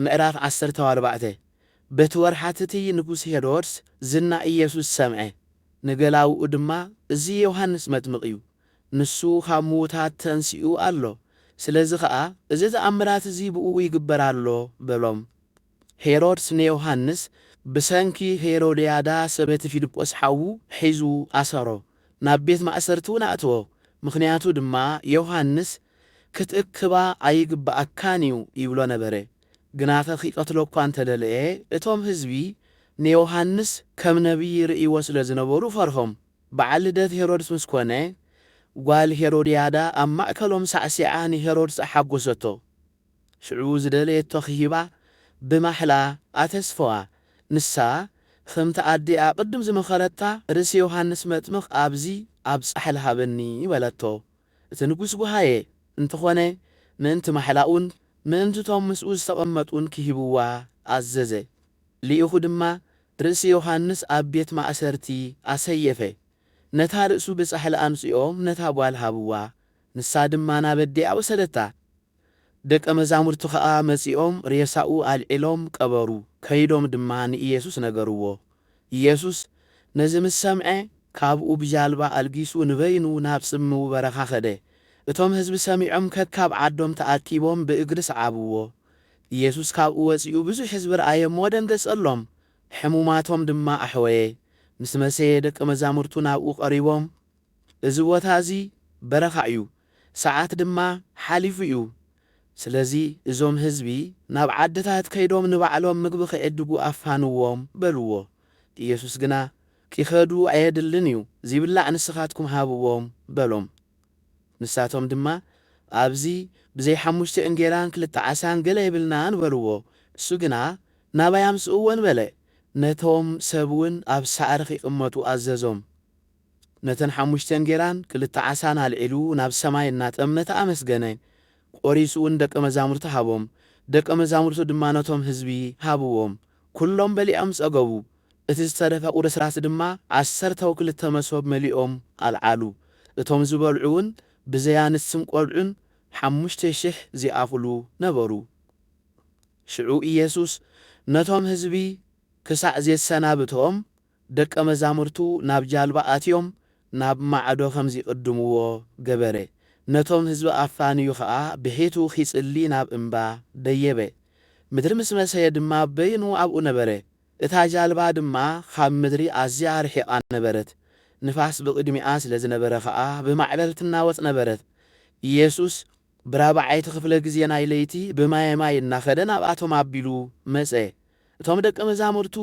ምዕራፍ ዓሰርተ ኣርባዕተ በቲ ወርሓት እቲ ንጉስ ሄሮድስ ዝና ኢየሱስ ሰምዐ፣ ንገላዉኡ ድማ፣ እዚ ዮሃንስ መጥምቕ እዩ፣ ንሱ ኻብ ምዉታት ተንሲኡ ኣሎ፣ ስለዚ ኸኣ እዚ ተኣምራት እዚ ብእኡ ይግበር ኣሎ በሎም። ሄሮድስ ንዮሃንስ ብሰንኪ ሄሮድያዳ ሰበቲ ፊልጶስ ሓዉ ሒዙ ኣሰሮ፣ ናብ ቤት ማእሰርቲውን ኣእተዎ፣ ምኽንያቱ ድማ ዮሃንስ፣ ክትእክባ ኣይግብኣካን እዩ ይብሎ ነበረ። ግናኸ ኺቀትሎ እኳ እንተ ደለየ፣ እቶም ህዝቢ ንዮሃንስ ከም ነብዪ ይርእይዎ ስለ ዝነበሩ ፈርሆም። በዓል ልደት ሄሮድስ ምስ ኰነ፣ ጓል ሄሮድያዳ ኣብ ማእከሎም ሳዕሲዓ ንሄሮድስ ኣሓጐሰቶ። ሽዑ ዝደለየቶ ኺህባ ብማሕላ ኣተስፈዋ። ንሳ፣ ኸምቲ ኣዲኣ ቕድም ዝመኸረታ፣ ርእሲ ዮሃንስ መጥምቕ ኣብዚ ኣብ ጻሕሊ ሃበኒ በለቶ። እቲ ንጉስ ጐሃየ፣ እንተዀነ ምእንቲ ማሕላኡን ምእንቲ እቶም ምስኡ ዝተቐመጡን ኪህብዋ ኣዘዘ። ልኢኹ ድማ ርእሲ ዮሃንስ ኣብ ቤት ማእሰርቲ ኣሰየፈ፣ ነታ ርእሱ ብጻሕሊ ኣምጺኦም ነታ ጓል ሃብዋ፣ ንሳ ድማ ናብ ኣዲኣ ወሰደታ፣ ደቀ መዛሙርቱ ኸኣ መጺኦም ሬሳኡ ኣልዒሎም ቀበሩ፣ ከይዶም ድማ ንኢየሱስ ነገርዎ። ኢየሱስ ነዚ ምስ ሰምዐ፣ ካብኡ ብጃልባ ኣልጊሱ ንበይኑ ናብ ጽምው በረኻ ኸደ። እቶም ህዝቢ ሰሚዖም ከካብ ዓዶም ተኣኪቦም ብእግሪ ሰዓብዎ። ኢየሱስ ካብኡ ወጺኡ ብዙሕ ህዝቢ ረኣየ እሞ ደንገጸሎም፣ ሕሙማቶም ድማ ኣሕወየ። ምስ መሰየ ደቀ መዛሙርቱ ናብኡ ቀሪቦም፣ እዚ ቦታ እዚ በረኻ እዩ፣ ሰዓት ድማ ሓሊፉ እዩ ስለዚ እዞም ህዝቢ ናብ ዓድታት ከይዶም ንባዕሎም ምግቢ ክዕድጉ ኣፋንዎም በልዎ ኢየሱስ ግና ኪኸዱ ኣየድልን እዩ ዚብላዕ ንስኻትኩም ሃብዎም በሎም ንሳቶም ድማ ኣብዚ ብዘይ ሓሙሽተ እንጌራን ክልተ ዓሳን ገለ የብልናን በልዎ እሱ ግና ናባይ ኣምጽእዎን በለ ነቶም ሰብውን ኣብ ሳዕሪ ኺቅመጡ ኣዘዞም ነተን ሓሙሽተ እንጌራን ክልተ ዓሳን ኣልዒሉ ናብ ሰማይ እናጠምተ ኣመስገነ፣ ቈሪሱውን ንደቀ መዛሙርቱ ሃቦም፣ ደቀ መዛሙርቱ ድማ ነቶም ህዝቢ ሃብዎም፣ ኵሎም በሊዖም ጸገቡ። እቲ ዝተረፈ ቍርስራስ ድማ ዓሰርተው ክልተ መሶብ መሊኦም ኣልዓሉ፣ እቶም ዝበልዑውን ብዘይ ኣንስትን ቈልዑን ሓሙሽተ ሽሕ ዚኣኽሉ ነበሩ። ሽዑ ኢየሱስ ነቶም ህዝቢ ክሳዕ ዜሰናብቶም፣ ደቀ መዛሙርቱ ናብ ጃልባ ኣትዮም ናብ ማዕዶ ኸም ዚቕድምዎ ገበረ። ነቶም ህዝቢ ኣፋንዩ ኸኣ ብሒቱ ኺጽሊ ናብ እምባ ደየበ። ምድሪ ምስ መሰየ ድማ በይኑ ኣብኡ ነበረ። እታ ጃልባ ድማ ኻብ ምድሪ ኣዝያ ርሒቓ ነበረት፣ ንፋስ ብቕድሚኣ ስለ ዝነበረ ኸኣ ብማዕበል ትናወጽ ነበረት። የሱስ ብራብዓይቲ ክፍለ ግዜ ናይ ለይቲ ብማየ ማይ እናኸደ ናብኣቶም ኣቢሉ መጸ። እቶም ደቀ መዛሙርቱ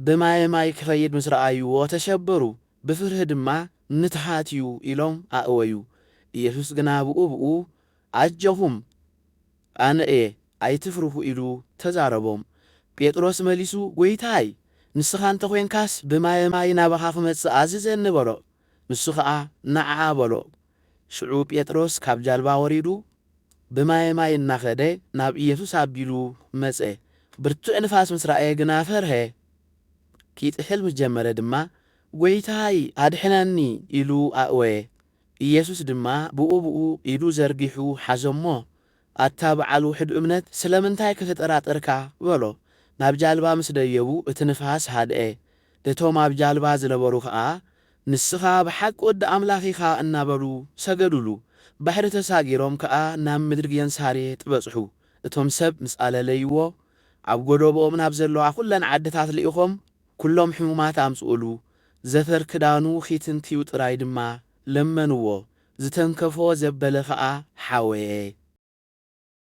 ብማየ ማይ ክኸይድ ምስ ረኣይዎ ተሸበሩ፣ ብፍርሂ ድማ ምትሃት እዩ ኢሎም ኣእወዩ። ኢየሱስ ግና ብኡ ብኡ ኣጀኹም ኣነ እየ ኣይትፍርሁ ኢሉ ተዛረቦም። ጴጥሮስ መሊሱ ጐይታይ ንስኻ እንተ ዄንካስ ብማየ ማይ ናባኻ ክመጽእ ኣዝዘኒ በሎ። ንሱ ኸኣ ንዓ በሎ። ሽዑ ጴጥሮስ ካብ ጃልባ ወሪዱ ብማየ ማይ እናኸደ ናብ ኢየሱስ ኣቢሉ መጸ። ብርቱዕ ንፋስ ምስ ረኣየ ግና ፈርሀ። ኪጥሕል ምስ ጀመረ ድማ ጐይታይ ኣድሕነኒ ኢሉ ኣእወየ። ኢየሱስ ድማ ብኡብኡ ኢዱ ዘርጊሑ ሓዞ'ሞ ኣታ በዓል ውሑድ እምነት ስለምንታይ ከተጠራጥርካ? በሎ። ናብ ጃልባ ምስ ደየቡ እቲ ንፋስ ሃድኤ። እቶም ኣብ ጃልባ ዝነበሩ ከኣ ንስኻ ብሓቂ ወዲ ኣምላኽ ኢኻ እናበሉ ሰገዱሉ። ባሕሪ ተሳጊሮም ከኣ ናብ ምድሪ ጌንሳሬጥ በጽሑ። እቶም ሰብ ምስ ኣለለይዎ ኣብ ጎዶቦኦም ናብ ዘለዋ ኩለን ዓድታት ልኢኾም ኩሎም ሕሙማት ኣምጽኡሉ። ዘፈር ክዳኑ ኺትንክዩ ጥራይ ድማ ለመንዎ። ዝተንከፎ ዘበለ ከኣ ሓወየ።